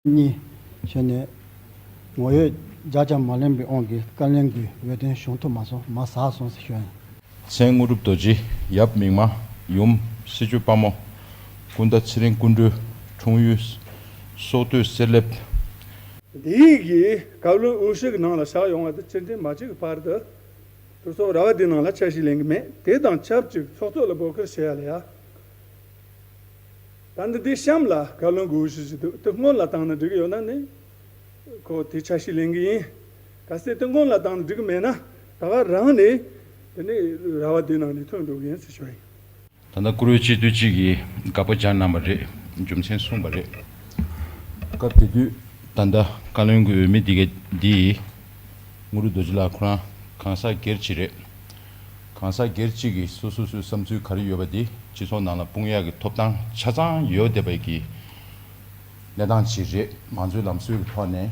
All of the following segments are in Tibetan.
གཉིས། ཞེས་ནས། ངོ་ཡོད་རྒྱ་ལྕང་མ་གླེང་བའི་ཨོང་གི་བཀའ་ལན་གྱི་འོད་དོན་བྱུང་ཐུབ་མ་སོང་མ་ཟག་སོང་ཟེར་ཞོན། མཚན་དངོས་གྲུབ་རྡོ་རྗེ་ཡབ་མིག་མ་ཡུམ་གསེར་ཆོས་དཔའ་མོ་ཀུན་ད་ཚེ་རིང་ཀུན་གྲོལ་འཁྲུངས་ཡུལ་སོག་སྟོད་གསེར་ལེབ། འདི་ཡིག་གི་བཀའ་བློན་དབུ་ཞིག་གི་ནང་ལ་བཞག་ཡོང་བ་དང་སྤྱི་འཐུས་མ་གཅིག་གི་བར་དུ་གྲོས་ཚོགས་ར་བ་དེའི་ནང་ལ་འཆར་གཞི་ལེན་གི་མེད་དེ་དང་ཆབས་ཅིག་ཚོགས་གཙོ་ལ་འབོད་སྐུལ་བྱེད་ཡ་ལ་ཡ། ད་འདི་དེའི་གཤམ་ལ་བཀའ་བློན་དགོས་ཞུ་བཞིན་འདུག་དེ་སྔོན་ལ་བཏང་ན་འགྲིག་གི་ཡོད་ན་ནི། ཁོ་དེ་ཆ་ཞིག་ལེན་གི་ཡིན། ག་ཚད་དེ་སྔོན་ལ་བཏང་ན་འགྲིག་གི་མེད་ན་ད་ག་རང་ནས་དེ་ནི་ར་བ་དེའི་ནང་ནས་ཐོན་འགྲོ་གི་ཡིན་ཟེར་ཞོར་ཡིན། ད་ལྟ་བཀུར་འོས་སྤྱི་འཐུས་གཅིག་གིས་དགག་པ་སྦྱར་གནང་བ་རེད་རྒྱུ་མཚན་གསུངས་པ་རེད། སྐབས་དེ་དུས་ད་ལྟ་བཀའ་བློན་དགོས་འོས་མི་འདི་ག་འདི་ཡིས། དངོས་རུ་རྡོ་རྗེ་ལགས་ཁོ་རང་གང་ཟག་སྒེར་གྱི་རེད། གང་ཟག་སྒེར་གཅིག་གིས་སོ་སོ་སོའི་བསམ་ཚུལ་ག་རེ་ཡོད་པ་དེ་སྤྱི་ཚོགས་ནང་ལ་དཔུང་ཡག་གི་ཐོབ་ཐང་ཆ་ཚང་ཡོད་བསྡད་པའི་གི་གནས་སྟངས་ཅིག་རེད་ང་ཚོའི་ལམ་སྲོལ་གི་ཐོག་ནས་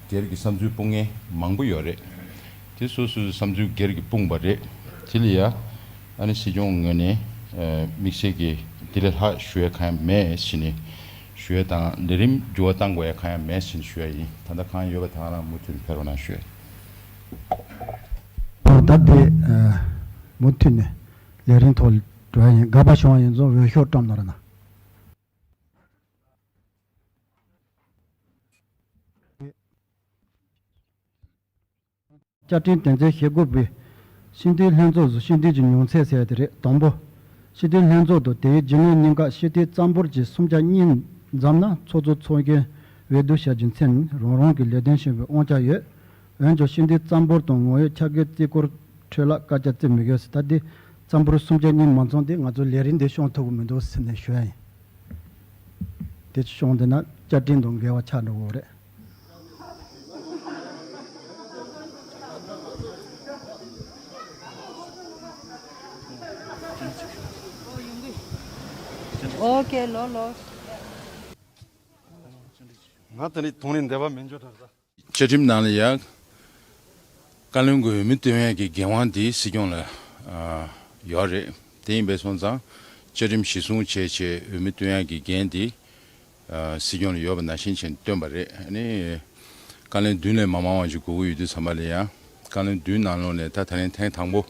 སྒེར་གྱི་བསམ་ཚུལ་སྤུངས་མཁན་མང་པོ་ཡོད་རེད་དེ་སོ་སོའི་བསམ་ཚུལ་སྒེར་གྱི་སྤུངས་པ་རེད་དེ་ལ་ཡ་ཨ་ནི་སྲིད་སྐྱོང་ངོས་ནས་མིག་ཤེལ་གྱི་དེ་ལས་ལྷག་ཞུ་ཡ་གང་ཡང་མེད་བཞིན་ནི་ཞུ་ཡ་དང་ལས་རིམ་འགྱུར་བ་བཏང་དགོས་ཡ་གང་ཡང་མེད་བཞིན་ཞུ་ཡ་ཡིན་ད་ལྟ་གང་ཡོད་པ་དང་རང་མུ་མཐུད་ནས་འཕེར་བ་ན་ཞུ་ཡ། ལོ་ཟླ་འདི་མུ་མཐུད་ནས་ལས་རིང་ཐོག་འགྲོ་ཡ་ཡིན་དགའ་པ་བྱུང་བ་ཡིན་རྫོང་འོས་ཤོག་བཀྲམ་ནོར་ན། བཅའ་ཁྲིམས་དོན་ཚན་ཞེ་དགུ་པའི། ཤེས་ལྡན་ལྷན་ཚོགས་སུ་ཤེས་ལྡན་གྱི་མྱོང་ཚད་གསལ་ཏེ་རེད་དང་པོ། ཤེས་ལྡན་ལྷན་ཚོགས་དང་དེའི་རྒྱུན་ལས་གཉིས་ཀ་ཤེས་ལྡན་རྩ་འབོར་གྱི་སུམ་ཆ་གཉིས་ཙམ་ན་ཚོགས་གཙོ་ཚོགས་མཁན་འོས་བསྡུ་བྱ་རྒྱུ་མཚན་ནི་རང་རང་གི་ལས་དོན་ཆེན་པོའི་དབང་ཆ་ཡོད་འོན་ཀྱང་ཤིང་རྟའི་རྩམ་ཕོར་དང་ངོ་ཡོད་ཆ་བགོས་རྩིས་འཁོར་ཁྲོད་ལ་བཀའ་རྒྱ་བརྩི་མི་དགོས་ཟེར་ད་ལྟའི་རྩམ་ཕོར་སུམ་ཆ་གཉིས་མ་འཚོང་དུས་ང་ཚོ་ལས་རིགས་འདི་ཤོང་ཐུབ་གི་མི་འདུག་ཟེར་ནས་ཞོལ་ཡིན་དེ་ཤོང་བསྡད་ན་བཅའ་ཁྲིམས་དང་འགལ་བ་ཆགས་འགྲོ་གི་རེད། ང་དེ་འདྲའི་དོན་ལས་འདས་པ་མིན་ཆོས་གྲགས་ས། བཅའ་ཁྲིམས་ནང་ལ་ཡང་བཀའ་བློན་དགོས་མིན་སྟོན་ཡས་ཀྱི་འགན་དབང་དེ་སྲིད་སྐྱོང་ལ་ཡོད་རེད་དེ་ཡིན་པས་སོང་ཙང་བཅའ་ཁྲིམས་གཞི་བཟུང་བྱས་བྱས་འོས་མི་སྟོན་ཡས་ཀྱི་འགན་དེ་སྲིད་སྐྱོང་ལ་ཡོད་པ་ནང་བཞིན་བཞིན་སྟོན་པ་རེད་ཨ་ནི་བཀའ་བློན་བདུན་ལས་མ་མང་བ་ཞིག་དགོས་ཀྱི་ཡོད་དུས་ཚང་མ་ལ་ཡང་བཀའ་བློན་བདུན་ནང་ལོག་ནས་ད་ད་ལན་ཐེངས་དང་པོ་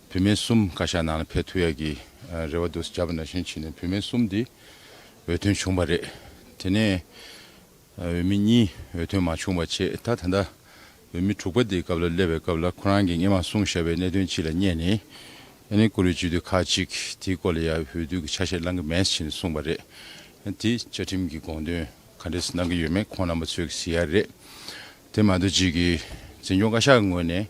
བུད་མེད་གསུམ་བཀའ་ཤག་ནང་ལ་ཕེབས་ཐུབ་ཡས་ཀྱི་རེ་བ་འདུག་བྱས་པ་ནང་བཞིན་བྱས་ནས་བུད་མེད་གསུམ་དེ་འོས་ཐོན་བྱུང་པ་རེད་དེ་ནས། འོས་མི་གཉིས་འོས་ཐོན་མ་བྱུང་བ་ཆེས་ད་ད་ལྟ་འོས་མི་དྲུག་པ་དེའི་སྐབས་ལ་སླེབས་པའི་སྐབས་ལ་ཁོ་རང་གིས་ངས་མ་གསུངས་བཞག་པའི་གནད་དོན་གཅིག་ལ་བསྙད་ནས་ཨ་ནེ་ཀོ་ལུས་སྤྱི་འཐུས་ཁག་གཅིག་དེའི་སྐོར་ལ་ཡང་འོས་བསྡུ་གི་ཆ་ཤས་བླང་གི་མེད་ཅེས་གསུངས་པ་རེད། དེས་བཅའ་ཁྲིམས་ཀྱི་དགོངས་དོན་ག་འདྲས་སུ་གནང་གི་ཡོད་མེད་ཁོང་རྣམ་པ་ཚོས་གཟིགས་ཡག་རེད། དེ་མ་ཏོ་གཅིག་གིས་འཛིན་སྐྱོང་བཀའ་ཤག་གི་ངོས་ནས་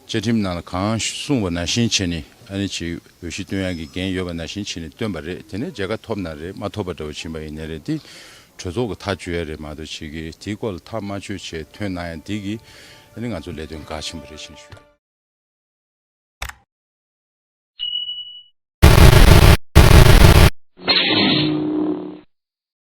བཅའ་ཁྲིམས་ནང་ལ་གང་གསུངས་པ་ནང་བཞིན་བྱས་ནི་ཨ་ནི་བྱེད་འོས་གཞི་བཏོན་ཡག་གི་འགན་ཡོད་པ་ནང་བཞིན་བྱས་ནི་བཏོན་པ་རེད་དེ་ནས་མཇལ་ཁ་ཐོབ་ན་རེད་མ་ཐོབ་པ་འདྲ་བོ་བྱིན་པ་ཡིན་ནི་རེད་དེ་གྲོས་ཚོགས་ཀྱི་ཐག་གཅོད་ཡག་རེད་མ་ཏོ་གཅིག་གིས་དེའི་སྐོར་ལ་ཐག་མ་ཆོད་ཆེད་ཐོན་གནང་ཡག་འདི་གིས་ཨ་ནི་ང་ཚོ་ལས་དོན་འགག་ཆེན་པོ་རེད་བཞིན་ཞུ།